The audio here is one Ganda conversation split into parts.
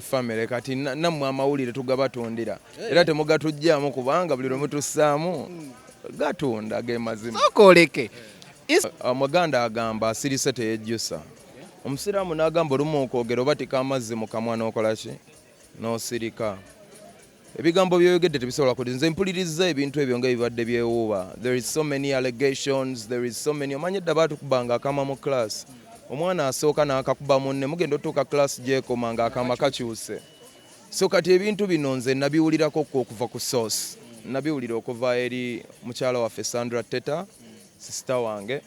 family kati nammwe amawulire tugabatundira era temugatugyamu kubanga buli lwe mutussaamu gatunda ge mazima okoleke omuganda uh, agamba asirise teyejjusa omusiraamu n'agamba olumu okwogera obatika amazzi mu kamwa n'okola ki n'osirika Ebigambo byoyogedde tebisobola kuli nze mpulirizza ebintu ebyo nga ebibadde byewuuba there is so many allegations there is so many omanyi edda batukubanga akama mu class omwana asooka nakakuba munne mugenda otuuka class gyekoma nga akama kakyuse so kati ebintu bino nze nabiwulirako kwo okuva ku source nabiwulira okuva eri mukyala waffe Sandra Teta sister wange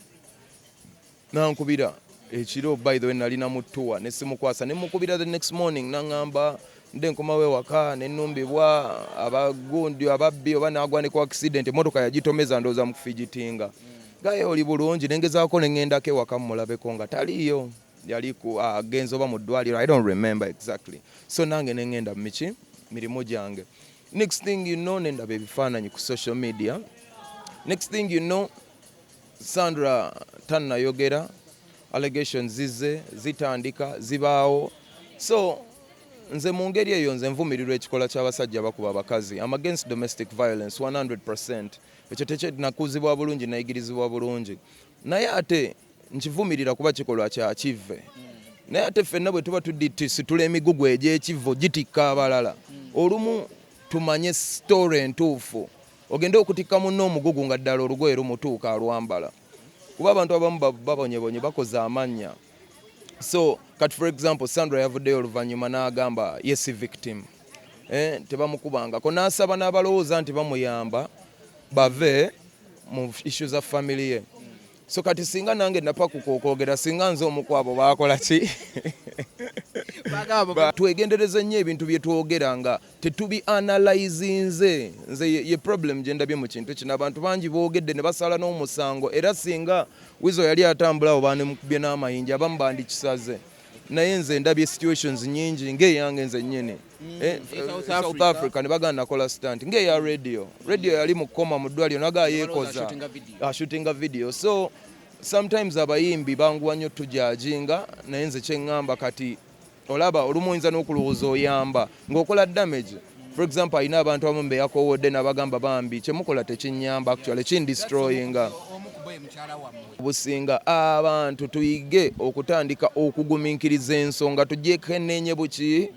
Nankubira ekiro by the way nali na mutuwa ne simukwasa ne mukubira the next morning nangamba nde nkomawo ewaka ne numbibwa abagundi ababbi oba nagwanika ku accident emotoka yagitomeza ndoza mu kufigitinga gaye oli bulungi nengezaako ne ngendako ewaka mulabeko nga taliyo yali agenze oba mu ddwaliro i don't remember exactly so nange ne ngenda mu miki mirimu gyange next thing you know nendaba ebifaananyi ku social media next thing you know Sandra tannayogera allegations zizze zitandika zibaawo so nze mu ngeri eyo nze nvumirirwa ekikola ky'abasajja bakuba abakazi am against domestic violence 100 ekyo tekyenakuzibwa bulungi nayigirizibwa bulungi naye ate nkivumirira kuba kikolwa kyakivve naye ate ffenna bwe tuba tudittisitula emigugu egy'ekivvo gitikka abalala olumu tumanye sitoore entuufu ogende okutikka munno omugugu nga ddala olugoye lumutuuka alwambala kuba abantu abamu babonyebonye bakoze amannya so kati for example sandra yavuddeyo oluvannyuma n'agamba ye si victim eh, tebamukubangako n'asaba n'abalowooza nti bamuyamba bave mu issu za family ye so kati singa nange napakuka okwogera singa nze omu kwabo bakola ki twegendereze nnyo ebintu bye twogera nga tetubi analyzinze nze ye problem gye ndabye mu kintu kino abantu bangi boogedde ne basala n'omusango era singa wizo yali atambula awo banemukubye n'amayinja abamu bandikisaze naye nze ndabye situations nyingi ng'eyange nze nnyini Mm, eh, eh, South Africa ne bagana nakola stunt ngeya radio radio yali mukoma mu ddwaliro naga yekoza ashootinga ah, video so sometimes abayimbi banguwa nnyo tujajinga naye nze kyeŋŋamba kati olaba olumu oyinza n'okulowooza oyamba ng'okola damage for example alina abantu abamu beyakowodde nabagamba bambi kyemukola tekinyamba actually kindestroyinga obusinga abantu tuyige okutandika okugumiikiriza ensonga tujekenenye buki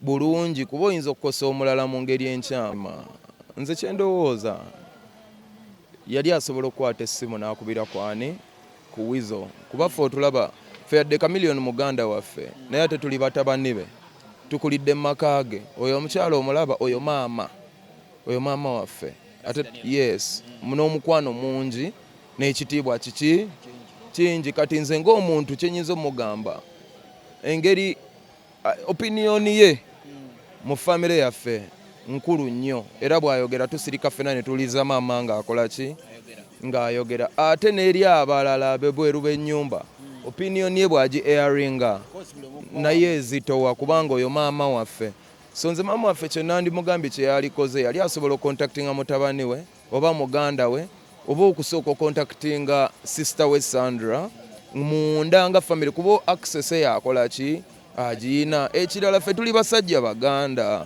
bulungi kuba oyinza okukosa omulala mu ngeri enkyama nze kyendowooza yali asobola okukwata essimu n'akubira kwani ku wizo kuba ffe otulaba ffe yadde kamiliyoni muganda waffe naye ate tuli batabani be tukulidde mu maka ge oyo omukyala omulaba oyo maama oyo maama waffe ate yes n'omukwano mungi n'ekitiibwa kiki kingi kati nze ng'omuntu kyenyinza omugamba engeri opiniyoni ye mu famire yaffe nkulu nnyo era bw'ayogera tusirika ffena ne tuliza maama ng'akola ki ng'ayogera ate n'eri abalala bebweru b'ennyumba opiniyoni ye bw'agi eyaringa naye ezitowa kubanga oyo maama waffe so nze maama waffe kyenandimugambye kyeyalikoze yali asobola okontaktinga mutabani we oba muganda we oba okusooka okontaktinga sister we sandra munda nga famiry kuba access eyakolaki agiyina ekirala fe tuli basajja baganda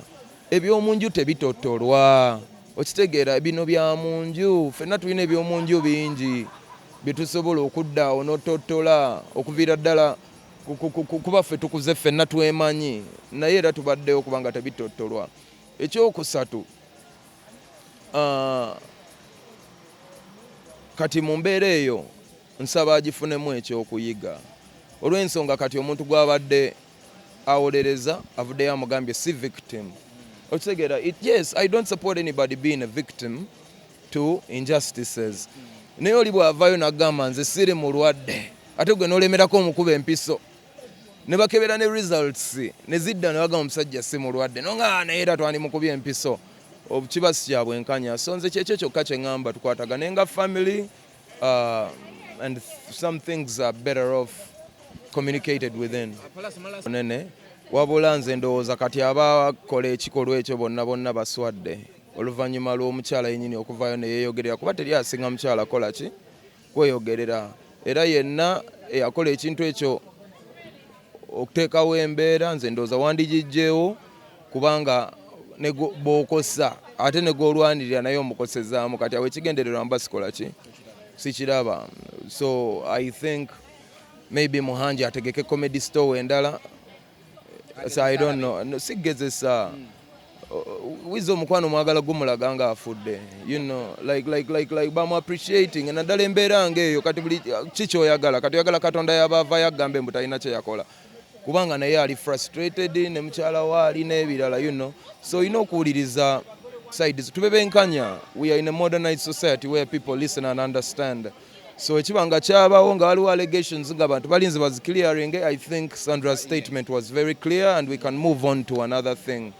ebyomunju tebitotolwa okitegeera bino bya munju fenna tulina ebyomunju bingi byetusobola okuddaawo notottola okuviira ddala kuba ffe tukuze ffenna twemanyi naye era tubaddewo kubanga tebitottolwa ekyokusatu ah, kati mu mbeera eyo nsaba agifunemu ekyokuyiga olw'ensonga kati omuntu gwabadde awolereza avuddeyo amugambye si victim okitegeera yes i don't support anybody being a victim to injustices naye oli bwavayo nagamba nze siri mulwadde ate gwe nolemerako omukuba empiso nebakebera ne results nezidda nebagamba omusajja si mulwadde nonga naye era twandimukubye empiso kiba si kya bwenkanya so nze kyekyo kyokka kye ŋŋamba tukwatagane nga family uh, and some things are better off communicated within nene wabula nze ndowooza kati abakola ekikolwa ekyo bonna bonna baswadde oluvannyuma lw'omukyala yennyini okuvaayo ne yeeyogerera kuba teri asinga mukyala kola ki kweyogerera era yenna eyakola ekintu ekyo okuteekawo embeera nze ndowooza wandigijjeewo kubanga bwokosa ate negwolwanirira naye omukosezaamu kati awo ekigendererwa mba sikola ki sikiraba so i think maybe muhanji ategeke comedy store endala sigezesa wiza omukwano mwagala gumulaga nga afudde you know like like like like bamu appreciating naddala embeera nga eyo kati buli kikyoyagala kati oyagala katonda yabavayo agambe mbu talina kyeyakola kubanga naye ali frustrated ne mukyala we ali n'ebirala you know so olina okuwuliriza sides tube benkanya we are in a modernized society where people listen and understand so ekiba nga kyabawo nga waliwo allegations nga bantu balinze baziclearinge i think sandra's statement was very clear and we can move on to another thing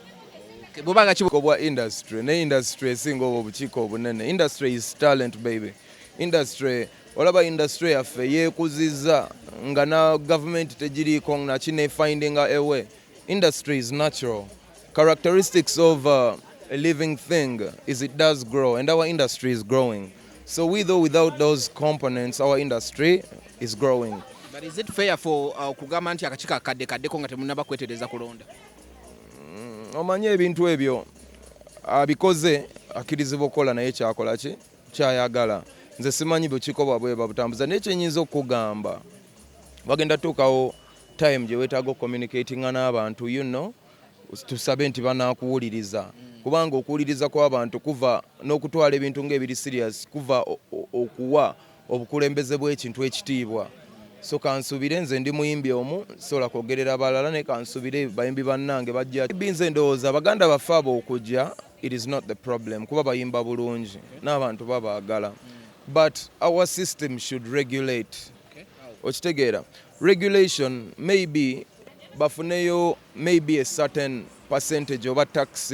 bubanga kibuko bwa industry ne industry esinga obwo obukiiko obunene industry is talent baby industry olaba industry yaffe yekuziza nga na gavumenti tegiriiko nakinefindinga ewe industry is natural Characteristics of uh, a living thing is it does grow and our industry is growing. So with or without those components our industry is growing. But is it fair for uh, kugamba nti akakika kadde kadde ko nga temunaba kwetereza kulonda? Mm, omanyi ebintu ebyo abikoze akirizibwa okukola naye kyakola ki kyayagala nze simanyi bukiko bwabwe babutambuza naye kyenyinza okugamba bagenda tuukawo time gye weetaaga okucommunicatinga n'abantu you know tusabe nti banakuwuliriza kubanga okuwuliriza kw'abantu kuva n'okutwala ebintu ng'ebiri serious kuva okuwa obukulembeze bw'ekintu ekitiibwa so kansubire nze ndi muyimbi omu sobola kwogerera balala naye kansubire bayimbi bannange bajja binze ndowooza baganda baffe abo okujja it is not the problem kuba bayimba bulungi n'abantu babaagala but our system should regulate okitegeera okay. regulation maybe bafuneyo maybe a certain percentage oba tax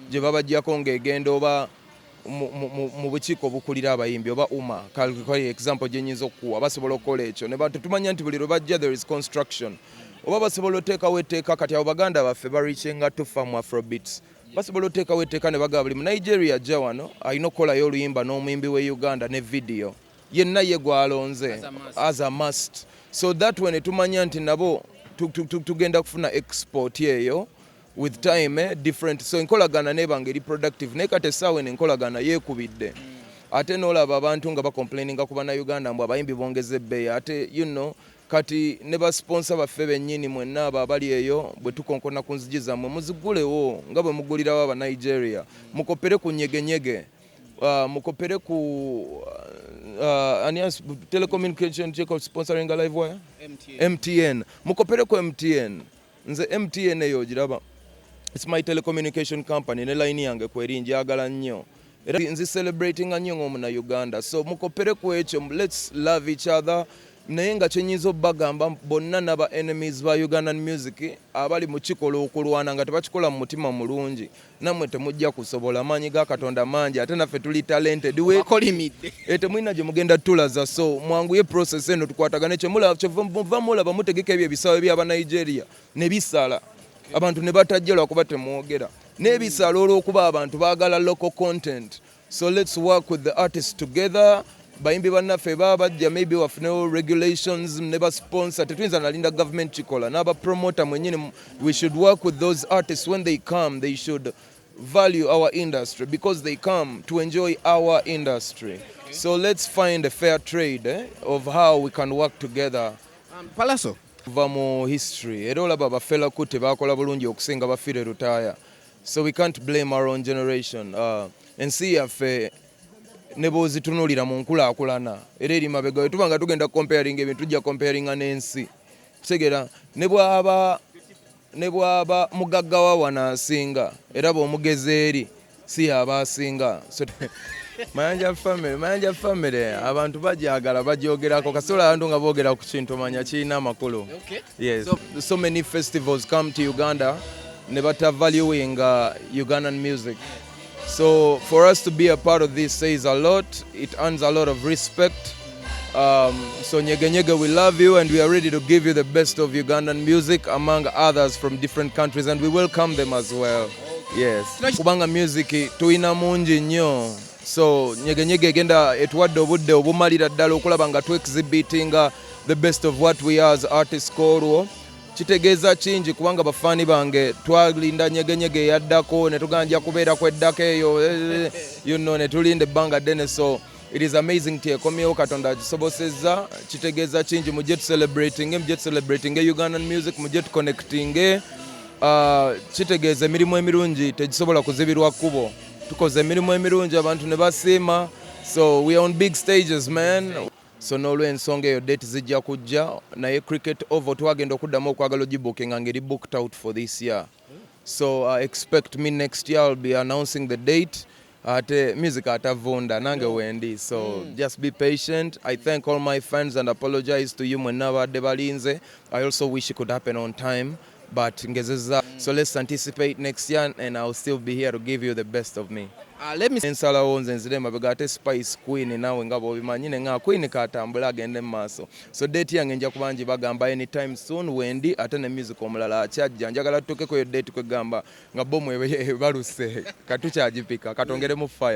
gye babajjako ng'egenda oba mu bukiiko obukulira abayimbi oba uma kalkali example gye nyinza okukuwa basobola okukola ekyo ne tetumanya nti buli lwe bajja there is construction oba basobola oteekawo etteeka kati abo baganda baffe barikinga tufa mu afrobeats basobola oteekawo etteeka ne bagaba buli mu nigeria ajja wano alina okukolayo oluyimba n'omuyimbi w'e uganda ne vidiyo yenna ye gwalonze as a must so that way netumanya nti nabo tugenda kufuna export eyo with time eh, different so enkolagana nebanga eri productive naye kati essaawa eno enkolagana yeekubidde ate nolaba abantu nga bacomplaininga ku banauganda mbu abayimbi bongeza ebbeeyi ate you know kati ne basiponsa baffe bennyini mwenna abo abali eyo bwe tukonkona ku nzigi zammwe muzigulewo nga bwe mugulirawo abanigeria mukopere ku nyegenyege Uh, mukopere ku uh, Alliance Telecommunication check of sponsoring a live wire MTN, MTN. mukopere ku MTN nze MTN eyo ogiraba it's my telecommunication company ne line yange kweri njagala nnyo era nzi celebrating nnyo ng'omuna Uganda so mukopere ku ekyo let's love each other naye nga kyenyinza obagamba bonna naba enemies ba Ugandan music abali mukikola okulwana nga tebakikola mu mutima mulungi namwe temujja kusobola amaanyi ga katonda mangi ate naffe tuli talented wekolimidde eh, temulina gye mugenda tulaza so mwanguye process eno tukwatagane kyemuva mulaba mutegeka ebyo ebisaawe byaba nigeria ne bisala abantu ne batajja lwakuba temwogera n'ebisala olw'okuba abantu baagala local content so let's work with the artists together bayimbi bannaffe baba bajja maybe wafunewo regulations ne basponsor tetuyinza nalinda government kikola n'abapromota mwenyini we should work with those artists when they come they should value our industry because they come to enjoy our industry okay. so let's find a fair trade eh, of how we can work together um, palaso va mu history era olaba bafela kuti bakola bulungi okusinga bafire rutaya so we can't blame our own generation uh, ensi yaffe ne bwozitunulira mu nkulaakulana era eri mabega we tuba nga tugenda comparing ebintu tujja comparinga n'ensi kitegera ne bwaba ne bwaba mugagga wa wano asinga era bw'omugezi eri si yaba asinga mayanja family mayanja family abantu bajagala bajogerako kasola abantu nga bogera ku kintu manya kirina amakulu yes so, so many festivals come to uganda ne bata valuing uh, Ugandan music so for us to be a part of this says a lot it earns a lot of respect um, so nyege nyege we love you and we are ready to give you the best of Ugandan music among others from different countries and we welcome them as well yes kubanga music tuyina mungi nnyo so nyege nyege egenda etuwadde obudde obumalira ddala okulaba nga tu exhibitinga the best of what we are as artists kolwo kitegeeza kingi kubanga bafaani bange twalinda nyegenyege eyaddako ne tugana nja kubeera ku eddako eyo eh, you know, ne tulinda ebbanga ddene so it is amazing ti ekomyewo katonda akisobosezza kitegeeza kingi mujje tucelebratinge mujje tucelebratinge ugandan music mujje tuconnectinge uh, kitegeeza emirimu emirungi tegisobola kuzibirwa kkubo tukoze emirimu emirungi abantu ne basiima so we are on big stages man so n'olwensonga eyo date zijja kujja naye cricket oval twagenda okuddamu okwagala ogibukinga nga eri booked out for this year so uh, expect me next year I'll be announcing the date ate music atavunda nange wendi so mm. just be patient i thank all my fans and apologize to you mwenna abadde balinze i also wish it could happen on time but ngezeza mm. so let's anticipate next year and I'll still be here to give you the best of me uh, let me ensalawo nze nzire mabega ate spice queen nawe nga bobimanyi ne nga queen katambula agende mu maaso so date yange nja kubangi bagamba anytime soon wendi ate ne music omulala akyajja njagala tutuukeko yo date kwegamba nga bomu ebaluse katukyagipika katongeremu fire